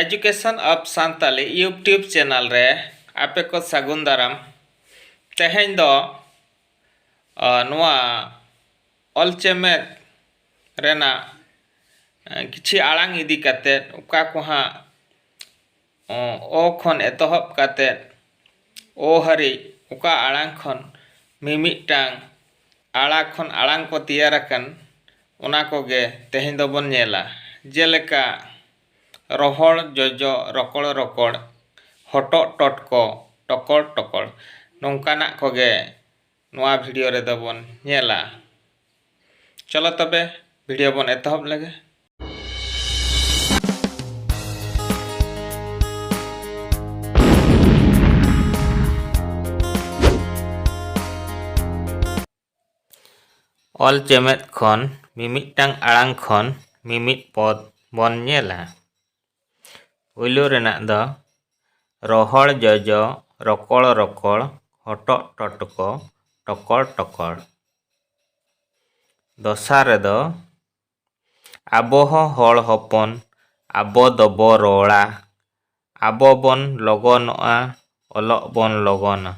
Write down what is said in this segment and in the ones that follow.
Education of Santali YouTube channel ᱨᱮ ᱟᱯᱮ ᱠᱚ ᱥᱟᱹᱜᱩᱱ ᱫᱟᱨᱟᱢ ᱛᱮᱦᱮᱧ ᱫᱚ ᱱᱚᱣᱟ ᱚᱞ ᱪᱮᱢᱮᱫ ᱨᱮᱱᱟᱜ ᱠᱤᱪᱷᱤ ᱟᱲᱟᱝ ᱤᱫᱤ ᱠᱟᱛᱮᱫ ᱚᱠᱟ ᱠᱚ ᱦᱟᱸᱜ ᱚ ᱠᱷᱚᱱ ᱮᱛᱚᱦᱚᱵ ᱠᱟᱛᱮ ᱚ ᱦᱟᱹᱨᱤᱡ ᱚᱠᱟ ᱟᱲᱟᱝ ᱠᱷᱚᱱ ᱢᱤᱢᱤᱫᱴᱟᱝ ᱟᱲᱟ ᱠᱷᱚᱱ ᱟᱲᱟᱝ ᱠᱚ ᱛᱮᱭᱟᱨ ᱟᱠᱟᱱ ᱚᱱᱟ ᱠᱚᱜᱮ ᱛᱮᱦᱮᱧ ᱫᱚᱵᱚᱱ ᱧᱮᱞᱟ ᱡᱮᱞᱮᱠᱟ ᱨᱚᱦᱚᱲ ᱡᱚᱡᱚ ᱨᱚᱠᱚᱲ ᱨᱚᱠᱚᱲ ᱦᱚᱴᱚᱜ ᱴᱚᱴᱠᱚ ᱴᱚᱠᱚᱲ ᱴᱚᱠᱚᱲ ᱱᱚᱝᱠᱟᱱᱟᱜ ᱠᱚᱜᱮ ᱱᱚᱣᱟ ᱵᱷᱤᱰᱤᱭᱳ ᱨᱮᱫᱚ ᱵᱚᱱ ᱧᱮᱞᱟ ᱪᱚᱞᱚ ᱛᱚᱵᱮ ᱵᱷᱤᱰᱤᱭᱳ ᱵᱚᱱ ᱮᱛᱚᱦᱚᱵ ᱞᱮᱜᱮ ᱚᱞ ᱪᱮᱢᱮᱫ ᱠᱷᱚᱱ ᱢᱤᱢᱤᱫᱴᱟᱝ ᱟᱲᱟᱝ ᱠᱷᱚᱱ ᱢᱤᱢᱤᱫ ᱯᱚᱫ ᱵᱚᱱ ᱧᱮᱞᱟ ᱯᱩᱭᱞᱩ ᱨᱮᱱᱟᱜ ᱫᱚ ᱨᱚᱦᱚᱲ ᱡᱚᱡᱚ ᱨᱚᱠᱚᱲ ᱨᱚᱠᱚᱲ ᱦᱚᱴᱚᱜ ᱴᱚᱴᱠᱚ ᱴᱚᱠᱚᱲ ᱴᱚᱠᱚᱲ ᱫᱚᱥᱟᱨ ᱨᱮᱫᱚ ᱟᱵᱚ ᱦᱚᱸ ᱦᱚᱲ ᱦᱚᱯᱚᱱ ᱟᱵᱚ ᱫᱚᱵᱚ ᱨᱚᱲᱟ ᱟᱵᱚ ᱵᱚᱱ ᱞᱚᱜᱚᱱᱚᱜᱼᱟ ᱚᱞᱚᱜ ᱵᱚᱱ ᱞᱚᱜᱚᱱᱟ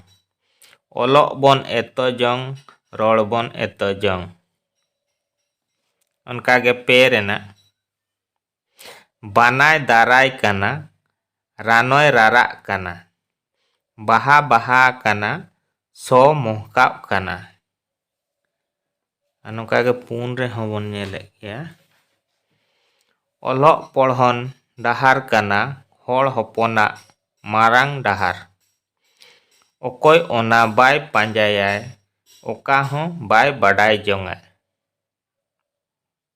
ᱚᱞᱚᱜ ᱵᱚᱱ ᱮᱛᱚ ᱡᱚᱝ ᱨᱚᱲ ᱵᱚᱱ ᱮᱛᱚ ᱡᱚᱝ ᱚᱱᱠᱟᱜᱮ ᱯᱮ ᱨᱮᱱᱟᱜ ᱵᱟᱱᱟᱭ ᱫᱟᱨᱟᱭ ᱠᱟᱱᱟ ᱨᱟᱱᱚᱭ ᱨᱟᱨᱟᱜ ᱠᱟᱱᱟ ᱵᱟᱦᱟ ᱵᱟᱦᱟ ᱟᱠᱟᱱᱟ ᱥᱚ ᱢᱚᱦᱠᱟᱜ ᱠᱟᱱᱟ ᱟᱨ ᱱᱚᱝᱠᱟ ᱜᱮ ᱯᱩᱱ ᱨᱮᱦᱚᱸ ᱵᱚᱱ ᱧᱮᱞᱮᱫ ᱜᱮᱭᱟ ᱚᱞᱚᱜ ᱯᱚᱲᱦᱚᱱ ᱰᱟᱦᱟᱨ ᱠᱟᱱᱟ ᱦᱚᱲ ᱦᱚᱯᱚᱱᱟᱜ ᱢᱟᱨᱟᱝ ᱰᱟᱦᱟᱨ ᱚᱠᱚᱭ ᱚᱱᱟ ᱵᱟᱭ ᱯᱟᱸᱡᱟᱭᱟᱭ ᱚᱠᱟ ᱦᱚᱸ ᱵᱟᱭ ᱵᱟᱰᱟᱭ ᱡᱚᱝᱟᱭ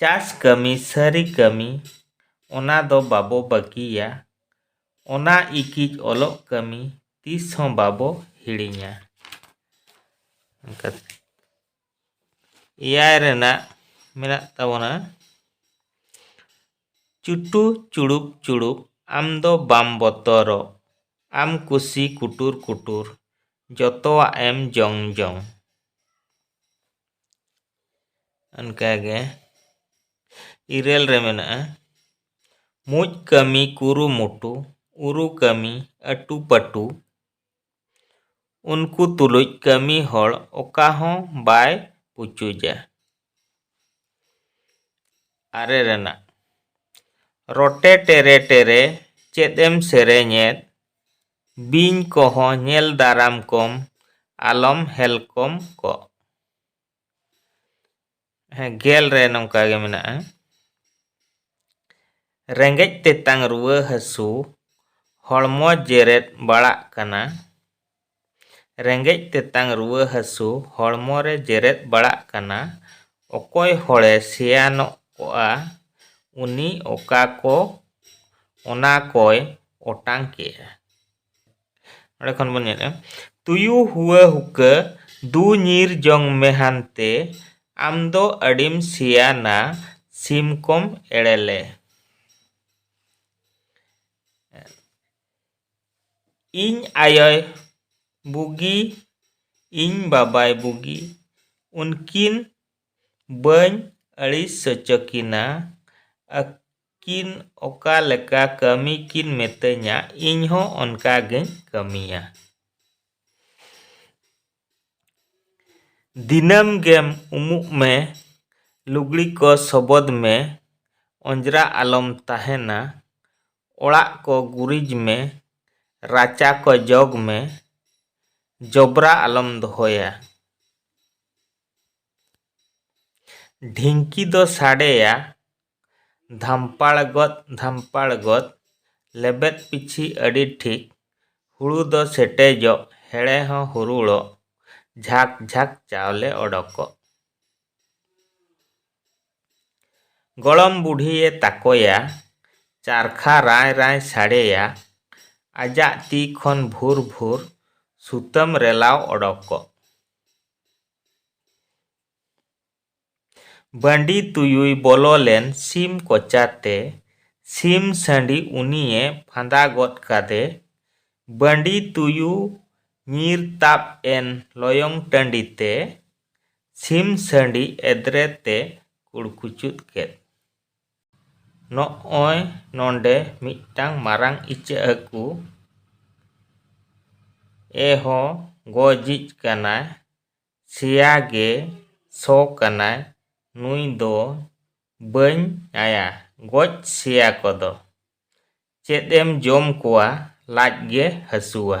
ᱪᱟᱥ ᱠᱟᱹᱢᱤ ᱥᱟᱹᱨᱤ ᱠᱟᱹᱢᱤ ᱚᱱᱟ ᱫᱚ ᱵᱟᱵᱚ ᱵᱟᱹᱜᱤᱭᱟ ᱚᱱᱟ ᱤᱠᱤᱡ ᱚᱞᱚᱜ ᱠᱟᱹᱢᱤ ᱛᱤᱥ ᱦᱚᱸ ᱵᱟᱵᱚ ᱦᱤᱲᱤᱧᱟ ᱚᱱᱠᱟ ᱮᱭᱟᱭ ᱨᱮᱱᱟᱜ ᱢᱮᱱᱟᱜ ᱛᱟᱵᱚᱱᱟ ᱪᱩᱴᱩ ᱪᱩᱲᱩᱯ ᱪᱩᱲᱩᱯ ᱟᱢ ᱫᱚ ᱵᱟᱢ ᱵᱚᱛᱚᱨᱚᱜ ᱟᱢ ᱠᱩᱥᱤ ᱠᱩᱴᱩᱨ ᱠᱩᱴᱩᱨ ᱡᱚᱛᱚᱣᱟᱜ ᱮᱢ ᱡᱚᱝ ᱡᱚᱝ ᱚᱱᱠᱟᱜᱮ ᱤᱨᱟᱹᱞ ᱨᱮ ᱢᱮᱱᱟᱜᱼᱟ ᱢᱩᱡ ᱠᱟᱹᱢᱤ ᱠᱩᱨᱩᱢᱩᱴᱩ ᱩᱨᱩ ᱠᱟᱹᱢᱤ ᱟᱹᱴᱩ ᱯᱟᱹᱴᱩ ᱩᱱᱠᱩ ᱛᱩᱞᱩᱡ ᱠᱟᱹᱢᱤ ᱦᱚᱲ ᱚᱠᱟ ᱦᱚᱸ ᱵᱟᱭ ᱯᱩᱪᱩᱡᱟ ᱟᱨᱮ ᱨᱮᱱᱟᱜ ᱨᱚᱴᱮ ᱴᱮᱨᱮ ᱴᱮᱨᱮ ᱪᱮᱫ ᱮᱢ ᱥᱮᱨᱮᱧᱮᱫ ᱵᱤᱧ ᱠᱚᱦᱚᱸ ᱧᱮᱞ ᱫᱟᱨᱟᱢ ᱠᱚᱢ ᱟᱞᱚᱢ ᱦᱮᱞᱠᱚᱢ ᱠᱚᱜ᱾ ᱦᱮᱸ ᱜᱮᱞ ᱨᱮ ᱱᱚᱝᱠᱟ ᱜᱮ ᱢᱮᱱᱟᱜᱼᱟ ᱨᱮᱸᱜᱮᱡ ᱛᱮᱛᱟᱝ ᱨᱩᱣᱟᱹ ᱦᱟᱹᱥᱩ ᱦᱚᱲᱢᱚ ᱡᱮᱨᱮᱫ ᱵᱟᱲᱟᱜ ᱠᱟᱱᱟ ᱨᱮᱸᱜᱮᱡ ᱛᱮᱛᱟᱝ ᱨᱩᱣᱟᱹ ᱦᱟᱹᱥᱩ ᱦᱚᱲᱢᱚ ᱨᱮ ᱡᱮᱨᱮᱫ ᱵᱟᱲᱟᱜ ᱠᱟᱱᱟ ᱚᱠᱚᱭ ᱦᱚᱲᱮ ᱥᱮᱭᱟᱱᱚᱜ ᱠᱚᱜᱼᱟ ᱩᱱᱤ ᱚᱠᱟ ᱠᱚ ᱚᱱᱟ ᱠᱚᱭ ᱚᱴᱟᱝ ᱠᱮᱫᱼᱟ ᱚᱸᱰᱮ ᱠᱷᱚᱱ ᱵᱚᱱ ᱧᱮᱞᱮᱫᱼᱟ ᱛᱩᱭᱩ ᱦᱩᱣᱟᱹ ᱦᱩᱠᱟᱹ ᱫᱩ ᱧᱤᱨ ᱡᱚᱝ ᱢᱮ ᱦᱟᱱᱛᱮ ᱟᱢ ᱫᱚ ᱟᱹᱰᱤᱢ ᱥᱮᱭᱟᱱᱟ ᱥᱤᱢ ᱠᱚᱢ ᱮᱲᱮ ᱞᱮ ᱤᱧ ᱟᱭᱳᱭ ᱵᱩᱜᱤ ᱤᱧ ᱵᱟᱵᱟᱭ ᱵᱩᱜᱤ ᱩᱱᱠᱤᱱ ᱵᱟᱹᱧ ᱟᱹᱲᱤᱥ ᱦᱚᱪᱚ ᱠᱤᱱᱟ ᱠᱤᱱ ᱚᱠᱟ ᱞᱮᱠᱟ ᱠᱟᱹᱢᱤ ᱠᱤᱱ ᱢᱤᱛᱟᱹᱧᱟ ᱤᱧ ᱦᱚᱸ ᱚᱱᱠᱟ ᱜᱮᱧ ᱠᱟᱹᱢᱤᱭᱟ᱾ ᱫᱤᱱᱟᱹᱢ ᱜᱮᱢ ᱩᱢᱩᱜ ᱢᱮ, ᱞᱩᱜᱽᱲᱤ ᱠᱚ ᱥᱚᱵᱚᱫᱽ ᱢᱮ, ᱚᱸᱡᱽᱨᱟ ᱟᱞᱚᱢ ᱛᱟᱦᱮᱸᱱᱟ, ᱚᱲᱟᱜ ᱠᱚ ᱜᱩᱨᱤᱡᱽ ᱢᱮ, ᱨᱟᱪᱟ ᱠᱚ ᱡᱚᱜᱽ ᱢᱮ, ᱡᱚᱵᱽᱨᱟ ᱟᱞᱚᱢ ᱫᱚᱦᱚᱭᱟ᱾ ᱰᱷᱤᱝᱠᱤ ᱫᱚ ᱥᱟᱰᱮᱭᱟ᱾ ᱫᱷᱟᱢᱯᱟᱲ ᱜᱚᱫ ᱫᱷᱟᱢᱯᱟᱲ ᱜᱚᱫ ᱞᱮᱵᱮᱫ ᱯᱤᱪᱷᱤ ᱟᱹᱰᱤ ᱴᱷᱤᱠ ᱦᱩᱲᱩ ᱫᱚ ᱥᱮᱴᱮᱡᱚᱜ ᱦᱮᱲᱮ ᱦᱚᱸ ᱦᱩᱨᱩᱲᱚᱜ ᱡᱷᱟᱠ ᱡᱷᱟᱠ ᱪᱟᱣᱞᱮ ᱚᱰᱚᱠᱚᱜ᱾ ᱜᱚᱲᱚᱢ ᱵᱩᱰᱷᱤᱭᱮ ᱛᱟᱠᱚᱭᱟ ᱪᱟᱨᱠᱷᱟ ᱨᱟᱸᱭ ᱨᱟᱸᱭ ᱥᱟᱰᱮᱭᱟ ᱟᱡᱟᱜ ᱛᱤ ᱠᱷᱚᱱ ᱵᱷᱩᱨ ᱵᱷᱩᱨ ᱥᱩᱛᱟᱹᱢ ᱨᱮᱞᱟᱣ ᱚᱰᱚᱠᱚᱜ᱾ ᱵᱟᱺᱰᱤ ᱛᱩᱭᱩᱭ ᱵᱚᱞᱚ ᱞᱮᱱ ᱥᱤᱢ ᱠᱚᱪᱟ ᱛᱮ᱾ ᱥᱤᱢ ᱥᱟᱺᱰᱤ ᱩᱱᱤᱭᱮ ᱯᱷᱟᱸᱫᱟ ᱜᱚᱫ ᱠᱟᱫᱮ᱾ ᱵᱟᱺᱰᱤ ᱛᱩᱭᱩ ᱧᱤᱨ ᱛᱟᱵ ᱮᱱ ᱞᱚᱭᱚᱝ ᱴᱟᱺᱰᱤ ᱛᱮ᱾ ᱥᱤᱢ ᱥᱟᱺᱰᱤ ᱮᱫᱽᱨᱮ ᱛᱮ ᱠᱩᱲᱠᱩᱪᱩᱫ ᱠᱮᱫ᱾ ᱱᱚᱜᱼᱚᱭ ᱱᱚᱸᱰᱮ ᱢᱤᱫᱴᱟᱹᱝ ᱢᱟᱨᱟᱝ ᱤᱪᱟᱹᱜ ᱦᱟᱹᱠᱩ ᱮ ᱦᱚᱸ ᱜᱚᱡᱤᱡ ᱠᱟᱱᱟᱭ᱾ ᱥᱮᱭᱟ ᱜᱮ ᱥᱚ ᱠᱟᱱᱟᱭ ᱱᱩᱭ ᱫᱚ ᱵᱟᱹᱧ ᱟᱭᱟ ᱜᱚᱡ ᱥᱮᱭᱟ ᱠᱚᱫᱚ᱾ ᱪᱮᱫ ᱮᱢ ᱡᱚᱢ ᱠᱚᱣᱟ ᱞᱟᱡ ᱜᱮ ᱦᱟᱹᱥᱩᱣᱟ᱾